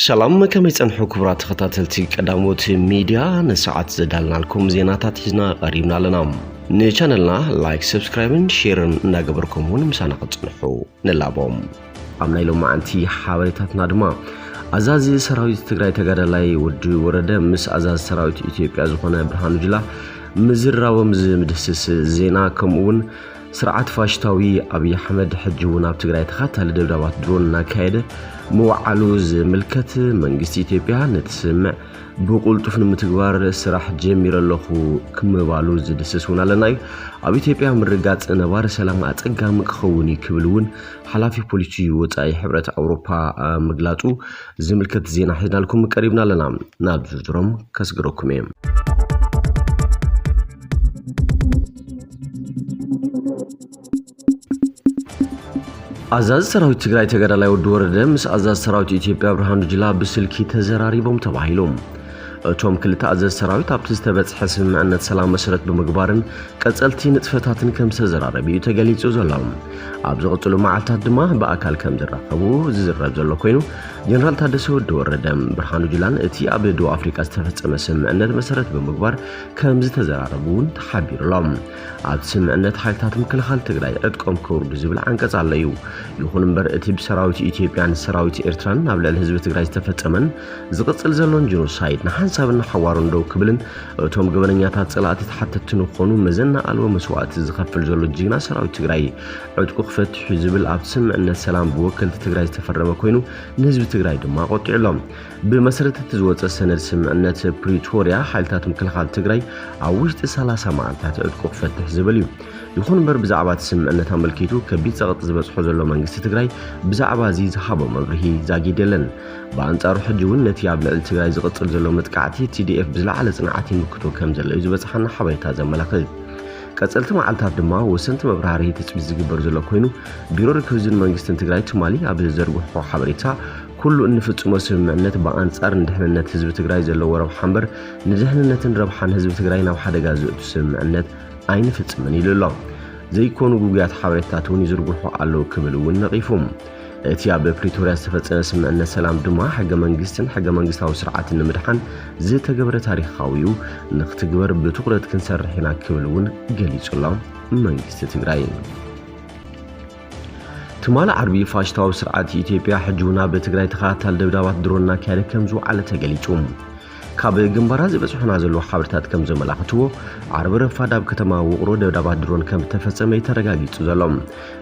ሰላም ከመይ ጸንሑ ክቡራት ተኸታተልቲ ቀዳሞት ሚድያ ንሰዓት ዘዳልናልኩም ዜናታት ሒዝና ቀሪብና ኣለና ንቻነልና ላይክ ሰብስክራይብን ሼርን እናገበርኩም እውን ምሳና ክጽንሑ ንላቦም ኣብ ናይ ሎማዓንቲ ሓበሬታትና ድማ ኣዛዚ ሰራዊት ትግራይ ተጋዳላይ ወዲ ወረደ ምስ ኣዛዚ ሰራዊት ኢትዮጵያ ዝኾነ ብርሃኑ ጅላ ምዝርራቦም ዝምድህስስ ዜና ከምኡ እውን ስርዓት ፋሽታዊ ኣብዪ ኣሕመድ ሕጂ እውን ኣብ ትግራይ ተኻታሊ ደብዳባት ድሮን እናካየደ ምውዓሉ ዝምልከት መንግስቲ ኢትዮጵያ ነቲ ስምምዕ ብቁልጡፍ ንምትግባር ስራሕ ጀሚረ ኣለኹ ክምባሉ ዝድስስ እውን ኣለና እዩ ኣብ ኢትዮጵያ ምርጋፅ ነባሪ ሰላም ኣፀጋሚ ክኸውን እዩ ክብል እውን ሓላፊ ፖሊሲ ወፃኢ ሕብረት ኣውሮፓ ምግላፁ ዝምልከት ዜና ሒዝናልኩም ቀሪብና ኣለና ናብ ዝርዝሮም ከስግረኩም እየ ኣዛዚ ሰራዊት ትግራይ ተጋዳላይ ወዲ ወረደ ምስ ኣዛዚ ሰራዊት ኢትዮጵያ ብርሃኑ ጅላ ብስልኪ ተዘራሪቦም ተባሂሎም እቶም ክልተ ኣዘዝ ሰራዊት ኣብቲ ዝተበጽሐ ስምምዕነት ሰላም መሰረት ብምግባርን ቀጸልቲ ንጥፈታትን ከም ዝተዘራረብ እዩ ተገሊጹ ዘሎ ኣብ ዝቕጽሉ መዓልታት ድማ ብኣካል ከም ዝራኸቡ ዝዝረብ ዘሎ ኮይኑ ጀነራል ታደሰ ወዲ ወረደ ብርሃኑ ጁላን እቲ ኣብ ደቡብ ኣፍሪካ ዝተፈጸመ ስምምዕነት መሰረት ብምግባር ከም ዝተዘራረቡ እውን ተሓቢሩ ኣሎ ኣብቲ ስምምዕነት ሓይልታት ምክልኻል ትግራይ ዕጥቆም ከውርዱ ዝብል ዓንቀጽ ኣሎ እዩ ይኹን እምበር እቲ ብሰራዊት ኢትዮጵያን ሰራዊት ኤርትራን ኣብ ልዕሊ ህዝቢ ትግራይ ዝተፈጸመን ዝቕጽል ዘሎን ጀኖሳይድ ንሓንሳብን ንሓዋሩን ደው ክብልን እቶም ገበነኛታት ጸላእቲ ተሓተትቲ ንኾኑ መዘና ኣልቦ መስዋእቲ ዝኸፍል ዘሎ ጅግና ሰራዊት ትግራይ ዕጥቁ ክፈትሕ እዩ ዝብል ኣብቲ ስምዕነት ሰላም ብወከልቲ ትግራይ ዝተፈረመ ኮይኑ ንህዝቢ ትግራይ ድማ ቆጢዑ ኣሎ። ብመሰረት እቲ ዝወፀ ሰነድ ስምዕነት ፕሪቶሪያ ሓይልታት ምክልኻል ትግራይ ኣብ ውሽጢ 30 መዓልታት ዕጥቁ ክፈትሕ ዝብል እዩ። ይኹን እምበር ብዛዕባ እቲ ስምዕነት ኣመልኪቱ ከቢድ ጸቕጢ ዝበጽሖ ዘሎ መንግስቲ ትግራይ ብዛዕባ እዚ ዝሃቦ መብርሂ ዛጊድ የለን። ብኣንጻሩ ሕጂ እውን ነቲ ኣብ ልዕሊ ትግራይ ዝቕጽል ዘሎ መጥቃዕቲ ቲዲኤፍ ብዝለዓለ ጽንዓት ይምክቶ ከም ዘሎ እዩ ዝበጽሓና ሓበሬታ ዘመላኽት። ቀጸልቲ መዓልታት ድማ ወሰንቲ መብራህርሂ ትጽቢት ዝግበር ዘሎ ኮይኑ፣ ቢሮ ርክብ ህዝብን መንግስትን ትግራይ ትማሊ ኣብ ዘዘርግሖ ሓበሬታ፣ ኩሉ እንፍጽሞ ስምምዕነት ብኣንጻር ንድሕንነት ህዝቢ ትግራይ ዘለዎ ረብሓ እምበር ንድሕንነትን ረብሓን ህዝቢ ትግራይ ናብ ሓደጋ ዘእቱ ስምምዕነት ኣይንፍጽምን ኢሉ ኣሎ። ዘይኮኑ ግጉያት ሓበሬታታት እውን ይዝርግሑ ኣለዉ ክብል እውን ነቒፉ። እቲ ኣብ ፕሪቶርያ ዝተፈጸመ ስምዕነት ሰላም ድማ ሕገ መንግስትን ሕገ መንግስታዊ ስርዓትን ንምድሓን ዝተገብረ ታሪኻዊ እዩ፣ ንክትግበር ብትኹረት ክንሰርሕ ኢና ክብል እውን ገሊጹ ኣሎ መንግስቲ ትግራይ። ትማሊ ዓርቢ ፋሽስታዊ ስርዓት ኢትዮጵያ ሕጂ እውን ኣብ ትግራይ ተኸታታሊ ደብዳባት ድሮን እናካየደ ከም ዝወዓለ ተገሊጹ። ካብ ግንባራት ዝበጽሑና ዘለዉ ሓበሬታት ከም ዘመላኽትዎ ዓርቢ ረፋድ ኣብ ከተማ ውቕሮ ደብዳባት ድሮን ከም እተፈጸመ እዩ ተረጋጊጹ ዘሎ።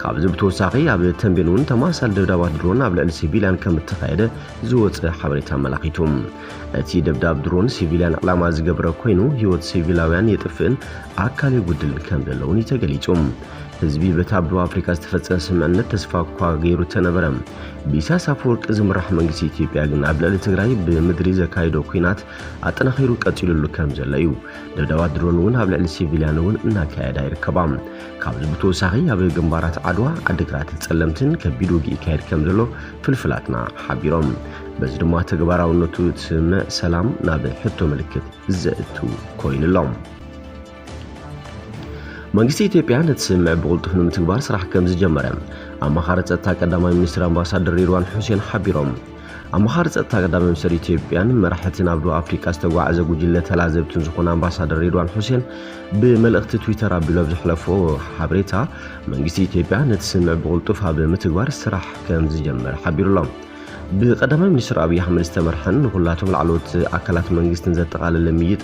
ካብዚ ብተወሳኺ ኣብ ተምቤን እውን ተመሳሳሊ ደብዳባት ድሮን ኣብ ልዕሊ ሲቪልያን ከም እተኻየደ ዝወጸ ሓበሬታ ኣመላኺቱ። እቲ ደብዳብ ድሮን ሲቪልያን ዕላማ ዝገበረ ኮይኑ ህይወት ሲቪላውያን የጥፍእን ኣካል የጉድልን ከም ዘሎ እውን እዩ ተገሊጹ። ህዝቢ በቲ ኣብ ደቡብ ኣፍሪቃ ዝተፈጸመ ስምምዕነት ተስፋ እኳ ገይሩ እተነበረ፣ ብኢሳያስ ኣፈወርቂ ዝምራሕ መንግስቲ ኢትዮጵያ ግን ኣብ ልዕሊ ትግራይ ብምድሪ ዘካይዶ ኩናት ኣጠናኺሩ ቀፂሉሉ ከም ዘሎ እዩ። ደብዳባት ድሮን እውን ኣብ ልዕሊ ሲቪልያን እውን እናካየዳ ይርከባ። ካብዚ ብተወሳኺ ኣብ ግንባራት ዓድዋ፣ ዓዲግራት፣ ፀለምትን ከቢድ ውግእ ይካየድ ከም ዘሎ ፍልፍላትና ሓቢሮም። በዚ ድማ ተግባራውነቱ እቲ ስምምዕ ሰላም ናብ ሕቶ ምልክት ዘእቱ ኮይኑ ኣሎ። መንግስቲ ኢትዮጵያ ነቲ ስምምዕ ብቕልጡፍ ንምትግባር ስራሕ ከም ዝጀመረ ኣማኻሪ ጸጥታ ቀዳማይ ሚኒስትር ኣምባሳደር ሬድዋን ሑሴን ሓቢሮም። ኣማኻሪ ጸጥታ ቀዳማይ ሚኒስትር ኢትዮጵያን መራሕቲ ናብ ደቡብ ኣፍሪቃ ዝተጓዓዘ ጉጅለ ተላዘብትን ዝኾነ ኣምባሳደር ሬድዋን ሑሴን ብመልእኽቲ ትዊተር ኣቢሉ ኣብ ዘሕለፎ ሓበሬታ መንግስቲ ኢትዮጵያ ነቲ ስምምዕ ብቕልጡፍ ኣብ ምትግባር ስራሕ ከም ዝጀመረ ሓቢሩሎም። ብቀዳማይ ሚኒስትር ኣብይ ኣሕመድ ዝተመርሐን ንኩላቶም ላዕለዎት ኣካላት መንግስትን ዘጠቓለለ ምይይጥ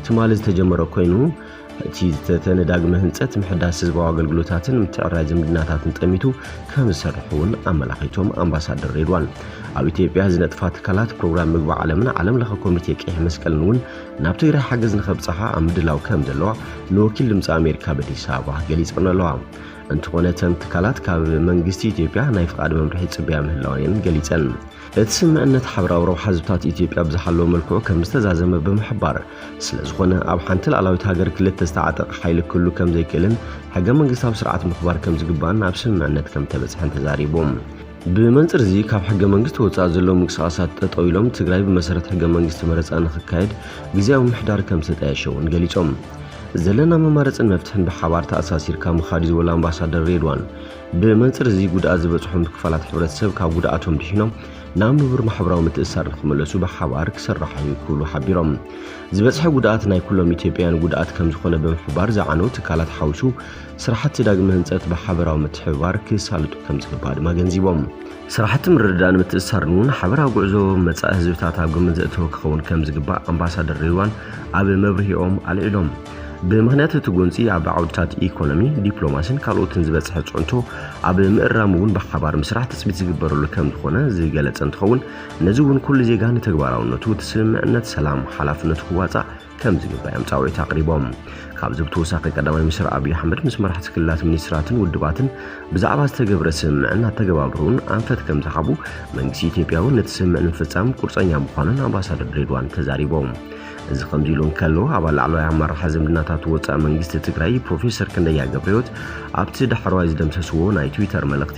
ትማሊ ዝተጀመረ ኮይኑ እቲ ዝተተ ንዳግመ ህንፀት ምሕዳስ ህዝባዊ ኣገልግሎታትን ምትዕራይ ዝምድናታትን ጠሚቱ ከም ዝሰርሕ እውን ኣመላኺቶም ኣምባሳደር ሬድዋን ኣብ ኢትዮጵያ ዝነጥፋ ትካላት ፕሮግራም ምግቢ ዓለምን ዓለም ለኸ ኮሚቴ ቀይሕ መስቀልን እውን ናብ ትግራይ ሓገዝ ንከብፅሓ ኣብ ምድላው ከም ዘለዋ ንወኪል ድምፂ ኣሜሪካ በዲስ ኣበባ ገሊፀን ኣለዋ። እንተኾነ እተን ትካላት ካብ መንግስቲ ኢትዮጵያ ናይ ፍቓድ መምርሒ ይጽበያ ምህላወን እየን ገሊጸን። እቲ ስምዕነት ሓብራዊ ረብሓ ህዝብታት ኢትዮጵያ ብዝሓለወ መልክዑ ከም ዝተዛዘመ ብምሕባር፣ ስለዝኾነ ኣብ ሓንቲ ልኣላዊት ሃገር ክልተ ዝተዓጠቐ ሓይሊ ክህሉ ከም ዘይክእልን ሕገ መንግስታዊ ስርዓት ምኽባር ከም ዝግባእን ኣብ ስምምዕነት ከም ተበጽሐን ተዛሪቡ። ብመንፅር እዚ ካብ ሕገ መንግስቲ ወፃኢ ዘለዉ ምንቅስቓሳት ጠጠው ኢሎም ትግራይ ብመሰረት ሕገ መንግስቲ መረፃ ንክካየድ ግዝያዊ ምምሕዳር ከምዝተጣየሸ እውን ገሊፆም። ዘለና መማረፅን መፍትሕን ብሓባር ተኣሳሲርካ ምኻድ እዩ ዝበሉ ኣምባሳደር ሬድዋን፣ ብመንፅር እዚ ጉድኣት ዝበፅሖም ክፋላት ሕብረተሰብ ካብ ጉድኣቶም ድሒኖም ናብ ንቡር ማሕበራዊ ምትእስሳር ንክመለሱ ብሓባር ክስራሕ እዩ ክብሉ ሓቢሮም። ዝበፅሐ ጉድኣት ናይ ኩሎም ኢትዮጵያውያን ጉድኣት ከምዝኾነ ብምሕባር ዝዓነው ትካላት ሓዊሱ ስራሕቲ ዳግመ ህንፀት ብሓበራዊ ምትሕብባር ክሳልጡ ከምዝግባእ ድማ ኣገንዚቦም። ስራሕቲ ምርድዳእን ምትእስሳርን እውን ሓበራዊ ጉዕዞ መፃኢ ህዝብታት ኣብ ግምት ዘእተወ ክኸውን ከምዝግባእ ኣምባሳደር ሬድዋን ኣብ መብርሂኦም ኣልዒሎም። ብምኽንያት እቲ ጎንፂ ኣብ ዓውድታት ኢኮኖሚ፣ ዲፕሎማሲን ካልኦትን ዝበፅሐ ፅዕንቶ ኣብ ምእራም እውን ብሓባር ምስራሕ ትፅቢት ዝግበረሉ ከምዝኾነ ዝገለፀ እንትኸውን ነዚ እውን ኩሉ ዜጋ ንተግባራውነቱ እቲ ስምምዕነት ሰላም ሓላፍነቱ ክዋፃእ ከምዚ ይብሉ እዮም ጻውዒት ኣቕሪቦም። ካብዚ ብተወሳኺ ቀዳማይ ሚኒስትር ኣብዪ ኣሕመድ ምስ መራሕቲ ክልላት፣ ሚኒስትራትን ውድባትን ብዛዕባ ዝተገብረ ስምምዕን ኣተገባብርኡን ኣንፈት ከምዝሃቡ፣ መንግስቲ ኢትዮጵያ እውን ነቲ ስምምዕ ንምፍጻም ቁርጸኛ ምዃኑን ኣምባሳደር ድሬዳዋን ተዛሪቦም። እዚ ከምዚ ኢሉ እንከሎ ኣባል ላዕለዋይ ኣመራርሓ ዝምድናታት ወጻኢ መንግስቲ ትግራይ ፕሮፌሰር ክንደያ ገብረህይወት ኣብቲ ዳሕረዋይ ዝደምሰስዎ ናይ ትዊተር መልእኽቲ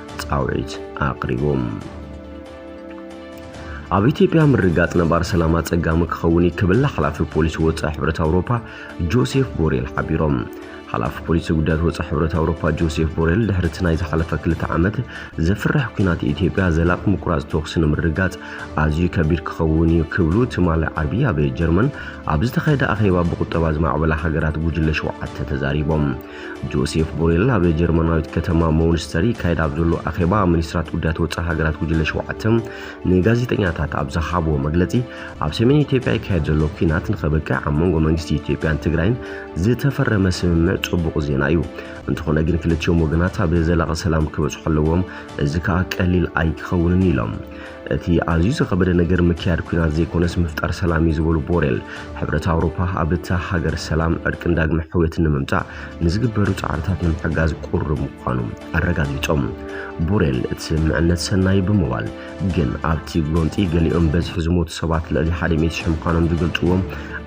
ጻውዒት ኣቕሪቦም። ኣብ ኢትዮጵያ ምርጋጽ ነባር ሰላም ኣጸጋሚ ክኸውን እዩ ክብል ሓላፊ ፖሊሲ ወጻኢ ሕብረት ኣውሮፓ ጆሴፍ ቦሬል ሓቢሮም። ሓላፊ ፖሊሲ ጉዳያት ወጻኢ ሕብረት ኣውሮፓ ጆሴፍ ቦሬል ድሕሪ እቲ ናይ ዝሓለፈ ክልተ ዓመት ዘፍርሕ ኲናት ኢትዮጵያ ዘላቂ ምቁራጽ ተኹሲ ንምርጋጽ ኣዝዩ ከቢድ ክኸውን እዩ ክብሉ ትማሊ ዓርቢ ኣብ ጀርመን ኣብ ዝተኻየደ ኣኼባ ብቁጠባ ዝማዕበላ ሃገራት ጉጅለ ሸውዓተ ተዛሪቦም። ጆሴፍ ቦሬል ኣብ ጀርመናዊት ከተማ ሞንስተር ይካየድ ኣብ ዘሎ ኣኼባ ሚኒስትራት ጉዳያት ወፃኢ ሃገራት ጉጅለ ሸውዓተ ንጋዜጠኛታት ኣብ ዝሃብዎ መግለፂ ኣብ ሰሜን ኢትዮጵያ ይካየድ ዘሎ ኩናት ንኸበቅዕ ኣብ መንጎ መንግስቲ ኢትዮጵያን ትግራይን ዝተፈረመ ስምምዕ ፅቡቕ ዜና እዩ። እንተኾነ ግን ክልቲኦም ወገናት ኣብ ዘላቒ ሰላም ክበፅሑ ኣለዎም፣ እዚ ከዓ ቀሊል ኣይክኸውንን ኢሎም። እቲ ኣዝዩ ዝኸበደ ነገር ምክያድ ኩናት ዘይኮነስ ምፍጣር ሰላም እዩ ዝበሉ ቦሬል፣ ሕብረት ኣውሮፓ ኣብታ ሃገር ሰላም፣ ዕርቅን ዳግመ ሕውየትን ንምምጻእ ንዝግበሩ ጻዕርታት ንምሕጋዝ ቁሩብ ምዃኑ ኣረጋጊጾም። ቦሬል እቲ ስምምዕነት ሰናይ እዩ ብምባል፣ ግን ኣብቲ ጎንጺ ገሊኦም በዝሒ ዝሞቱ ሰባት ልዕሊ ሓደ ሚእቲ ሽሕ ምዃኖም ዝገልጽዎም፣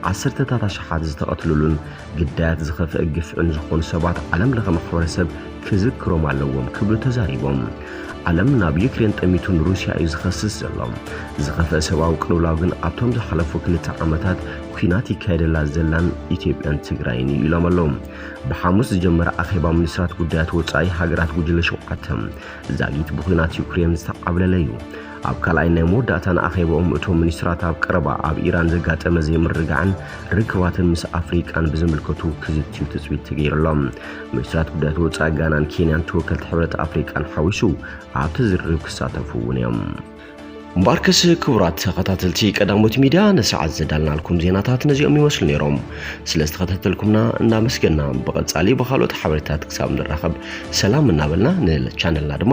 ዓሰርተታት ኣሽሓት ዝተቐትልሉን ግዳያት ዝኸፍአ ግፍዕን ዝኾኑ ሰባት ዓለም ለኸ ማሕበረሰብ ክዝክሮም ኣለዎም ክብሉ ተዛሪቦም። ዓለም ናብ ዩክሬን ጠሚቱ ንሩስያ እዩ ዝኸስስ ዘሎ። ዝኸፍአ ሰብኣዊ ቅልውላው ግን ኣብቶም ዝሓለፉ ክልተ ዓመታት ኲናት ይካየደላ ዘላን ኢትዮጵያን ትግራይን እዩ ኢሎም ኣለዉ። ብሓሙስ ዝጀመረ ኣኼባ ሚኒስትራት ጉዳያት ወጻኢ ሃገራት ጉጅለ ሸውዓተ ዛጊት ብዂናት ዩክሬን ዝተዓብለለ እዩ። ኣብ ካልኣይ ናይ መወዳእታን ኣኼባኦም እቶም ሚኒስትራት ኣብ ቀረባ ኣብ ኢራን ዘጋጠመ ዘይምርግጋዕን ርክባትን ምስ ኣፍሪቃን ብዝምልከቱ ክዝትዩ ትጽቢት ተገይሩሎም። ሚኒስትራት ጉዳያት ወጻኢ ጋናን ኬንያን ተወከልቲ ሕብረት ኣፍሪቃን ሓዊሱ ኣብቲ ዝርርብ ክሳተፉ እውን እዮም። እምበኣርከስ ክቡራት ተኸታተልቲ ቀዳሞት ሚድያ ንሰዓት ዘዳልናልኩም ዜናታት ነዚኦም ይመስሉ ነይሮም። ስለ ዝተኸታተልኩምና እናመስገና ብቐጻሊ ብካልኦት ሓበሬታት ክሳብ ንራኸብ ሰላም እናበልና ንቻነልና ድማ